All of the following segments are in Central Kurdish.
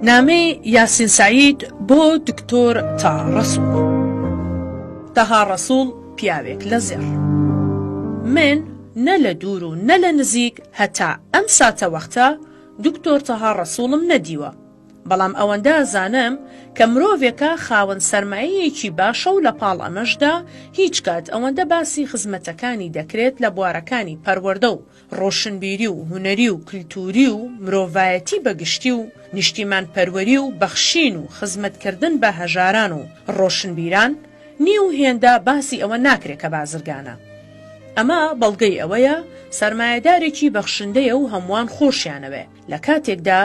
نامەی یاسین سەعید بۆ دکتۆر تا ڕسوڵ تەها ڕسوڵ پیاوێک لە زێڕ من نە لە دوور و نە لە نزیک هەتا ئەم ساتە وەختە دکتۆر تەها ڕسوڵم نەدیوە بەڵام ئەوەندە ئەزانم کە مرۆڤێکە خاوەن سەرمایەیەکی باشە و لەپاڵ ئەمەشدا هیچ کات ئەوەندە باسی خزمەتەکانی دەکرێت لە بوارەکانی پەروەردە و ڕۆشنبیری و هونەری و کلتووری و مرۆڤایەتی بە گشتی و نیشتیمانپەروەری و بەخشین و خزمەتکردن بە هەژاران و ڕۆشنبیران نییە و هێندە باسی ئەوە ناکرێت کە بازرگانە. ئەمە بەڵگەی ئەوەیە سەرمایەدارێکی بەخشندەیە و هەمووان خۆشیانەوێت. لە کاتێکدا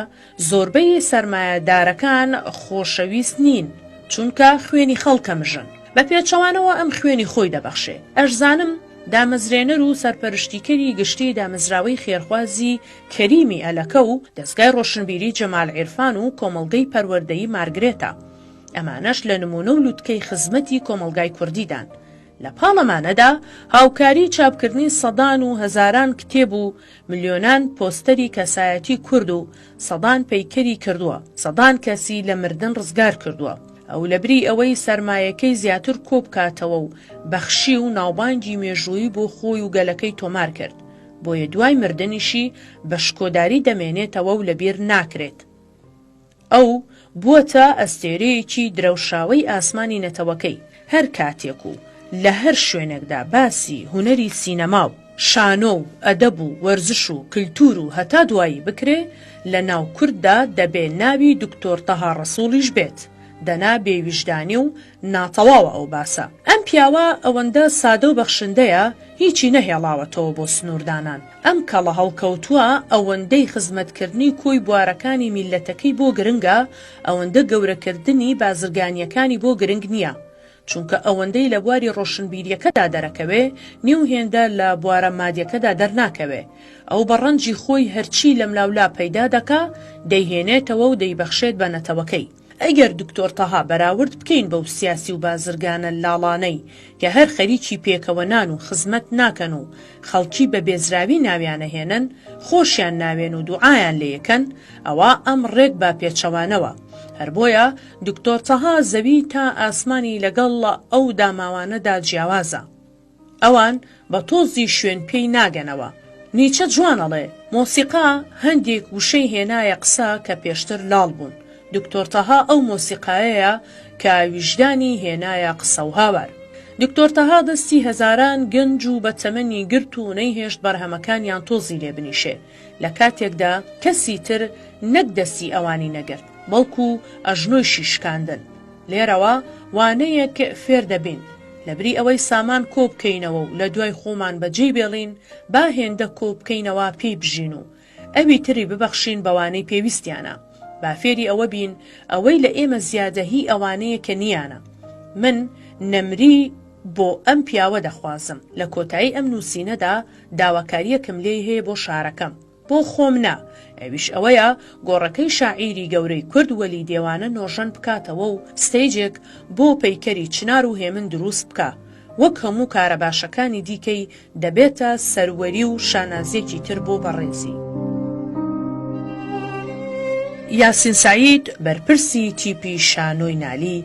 زۆربەی سەرمایەدارەکان خۆشەویست نین، چونکە خوێنی خەڵکە مژن، بە پێچەوانەوە ئەم خوێنی خۆی دەبەخشێ. ئەشزانم دامەزرێنەر و سەرپەرشتیکەری گشتیی دامەزراوەی خێرخوازی کەریمی ئەلەکە و دەزگای ڕۆشنبیری جەمال عیرفان و کۆمەڵگەی پەروەردەیی مارگرێتە، ئەمانەش لە نموونە و لوتکەی خزمەتی کۆمەڵگای کوردیدان. لە پاڵەمانەدا هاوکاری چاپکردنی سەدان و هەزاران کتێب و ملیۆنان پۆستەری کەسایەتی کورد و سەدان پەیکەری کردووە، سەدان کەسی لە مردن ڕزگار کردووە. ئەو لەبری ئەوەی سەرمایەکەی زیاتر کۆ بکاتەوە و بەخشی و ناوبانگی مێژوویی بۆ خۆی و گەلەکەی تۆمار کرد، بۆیە دوای مردنیشی بە شکۆداری دەمێنێتەوە و لەبیر ناکرێت. ئەو بووەتە ئەستێرەیەکی درەوشاوەی ئاسمانی نەتەوەکەی، هەر کاتێک و لە هەر شوێنێکدا باسی هونەری سینەما و شانۆ و ئەدەب و وەرزش و کلتوور و هەتا دوایی بکرێ، لە ناو کورددا دەبێ ناوی دکتۆر تەها ڕەسووڵیش بێت، دەنا بێویژدانی و ناتەواوە ئەو باسە. ئەم پیاوە ئەوەندە سادە و بەخشندەیە هیچی نەهێڵاوەتەوە بۆ سنووردانان. ئەم کەڵە هەڵکەوتووە ئەوەندەی خزمەتکردنی کۆی بوارەکانی میللەتەکەی بۆ گرنگە ئەوەندە گەورەکردنی بازرگانییەکانی بۆ گرنگ نییە. چونکە ئەوەندەی لە بواری ڕۆشنبیرییەکەدا دەرەکەوێ نیو هێندە لە بوارە مادیەکەدا دەرناکەوێ. ئەو بە ڕەنجی خۆی هەرچی لەملاولا پەیدا دەکا دەیهێنێتەوە و دەیبەخشێت بە نەتەوەکەی. ئەگەر دکتۆر تەها بەراورد بکەین بەو سیاسی و بازرگانە لاڵانەی کە هەر خەریکی پێکەوە نان و خزمەت ناکەن و خەڵکی بە بێزراوی ناویانەهێنن خۆشیان ناوێن و دوعایان لێکەن ئەوا ئەم ڕێک با پێچەوانەوە هەر بۆیە دکتۆر تەها زەوی تا ئاسمانی لەگەڵ ئەو داماوانەدا جیاوازە. ئەوان بە تۆزی شوێن پێی ناگەنەوە. نیچە جوان ئەڵێ، مۆسیقا هەندێک وشەی هێنایە قسە کە پێشتر لاڵ بوون. دکتۆر تەها ئەو مۆسیقایەیە کە ویژدانی هێنایە قسە و هاوار. دکتۆر تەها دەستی هەزاران گەنج و بەتەمەنی گرت و نەیهێشت بەرهەمەکانیان تۆزی لێ بنیشێ. لە کاتێکدا کەسی تر نەک دەستی ئەوانی نەگرت، بەڵکو ئەژنۆیشی شکاندن. لێرەوە وانەیەک فێر دەبین، لەبری ئەوەی سامان کۆ بکەینەوە و لە دوای خۆمان بە جێی بێڵین، با هێندە کۆ بکەینەوە پێی بژین و ئەوی تری ببەخشین بەوانەی پێویستیانە. با فێری ئەوە بین ئەوەی لە ئێمە زیادە هی ئەوانەیە کە نییانە. من نەمری بۆ ئەم پیاوە دەخوازم. لە کۆتایی ئەم نووسینەدا، داواکارییەکم لێی هەیە بۆ شارەکەم، بۆ خۆم نا، ئەویش ئەوەیە گۆڕەکەی شاعیری گەورەی کورد وەلی دێوانە نۆژەن بکاتەوە و ستەیجێک بۆ پەیکەری چنار و هێمن دروست بکا، وەک هەموو کارە باشەکانی دیکەی دەبێتە سەروەری و شانازییەکی تر بۆ بەڕێزی. یاسین سەعید، بەرپرسی تیپی شانۆی نالی،